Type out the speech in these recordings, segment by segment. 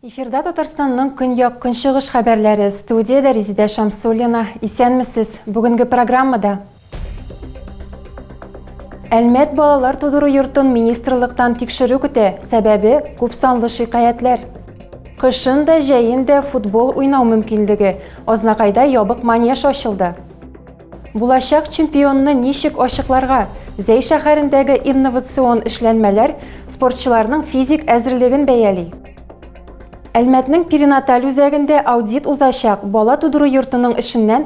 Эфирда Татарстанның көньяк көнчыгыш хәбәрләре студиядә Резидә Шамсуллина. Исәнмесез. Бүгенге программада Әлмәт балалар тудыру йортын министрлыктан тикшерү көтә, сәбәбе күп санлы шикаятләр. Кышын да, җәен дә футбол уйнау мөмкинлеге. Азнакайда ябык манеж ачылды. Булачак чемпионны ничек ачыкларга? Зәй шәһәрендәге инновацион эшләнмәләр спортчыларның физик әзерлеген бәяли. Әлмәтнең перинаталь үзәгендә аудит узачак, бала тудыру йортының эшеннән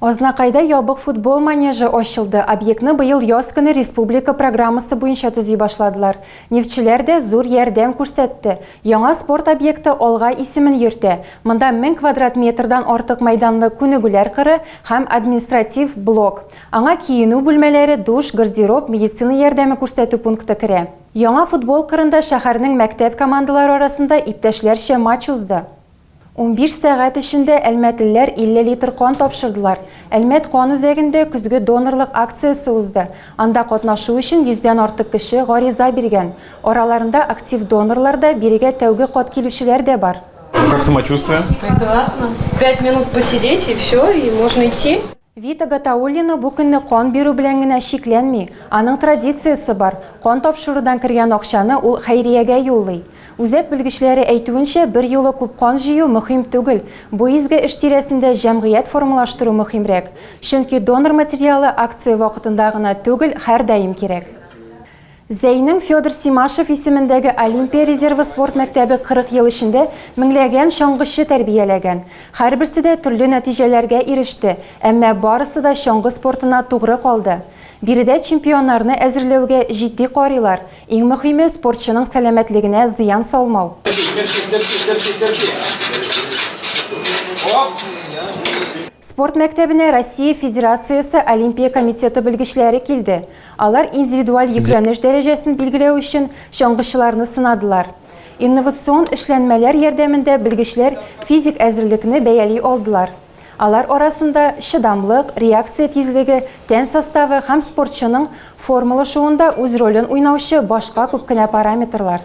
Азнакайда ябык футбол манежы ачылды. Объектны быел яз көне республика программасы буенча төзи башладылар. Нефтьчеләр дә зур ярдәм күрсәтте. Яңа спорт объекты алга исемен йөртә. Монда мең квадрат метрдан артык мәйданлы күнегүләр кыры һәм административ блок. Аңа киенү бүлмәләре, душ, гардероб, медицина ярдәме күрсәтү пункты керә. Яңа футбол кырында шәһәрнең мәктәп командалары арасында иптәшләрчә матч узды. Унбиш сәгать эчендә әлмәтлеләр 50 литр кан тапшырдылар. Әлмәт кан үзәгендә көзге донорлык акциясе узды. Анда катнашу өчен йөздән артык кеше гариза биргән. Араларында актив донорлар да, бирегә тәүге кат килүчеләр дә бар. Как самочувствие? Прекрасно. Пять минут посидеть и всё, и можно идти. Вита Гатауллина бу көнне кан бирү белән генә чикләнми, аның традициясе бар, кан тапшырудан кергән акчаны ул хәйриягә юллый. Үзәк белгечләре әйтүенчә, берьюлы күп кан җыю мөһим түгел, бу изге эш тирәсендә җәмгыять формалаштыру мөһимрәк. Чөнки донор материалы акция вакытында гына түгел, һәрдаим кирәк. Зәйнең Федор Симашев исемендәге Олимпия резервы спорт мәктәбе 40 ел эчендә меңләгән чаңгычы тәрбияләгән. Һәрберсе дә төрле нәтиҗәләргә иреште, әмма барысы да чаңгы спортына тугры калды. Биредә чемпионнарны әзерләүгә җитди карыйлар, иң мөхиме, спортчының сәламәтлегенә зыян салмау. Спорт мәктәбенә Россия Федерациясе Олимпия комитеты белгечләре килде. Алар индивидуаль йөкләнеш дәрәҗәсен билгеләү өчен чаңгычыларны сынадылар. Инновацион эшләнмәләр ярдәмендә белгечләр физик әзерлекне бәяли алдылар. Алар арасында чыдамлык, реакция тизлеге, тән составы һәм спортчының формалашуында үз ролен уйнаучы башка күп кенә параметрлар.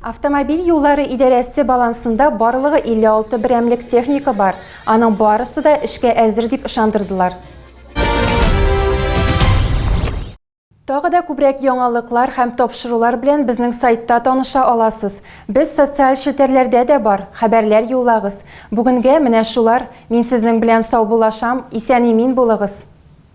Автомобиль юллары идарәсе балансында барлыгы 56 берәмлек техника бар, аның барысы да эшкә әзер, дип ышандырдылар. Тагы да күбрәк яңалыклар һәм тапшырулар белән безнең сайтта таныша аласыз. Без социаль челтәрләрдә дә бар, хәбәрләр юллагыз. Бүгенгә менә шулар. Мин сезнең белән саубуллашам, исән-имин булыгыз!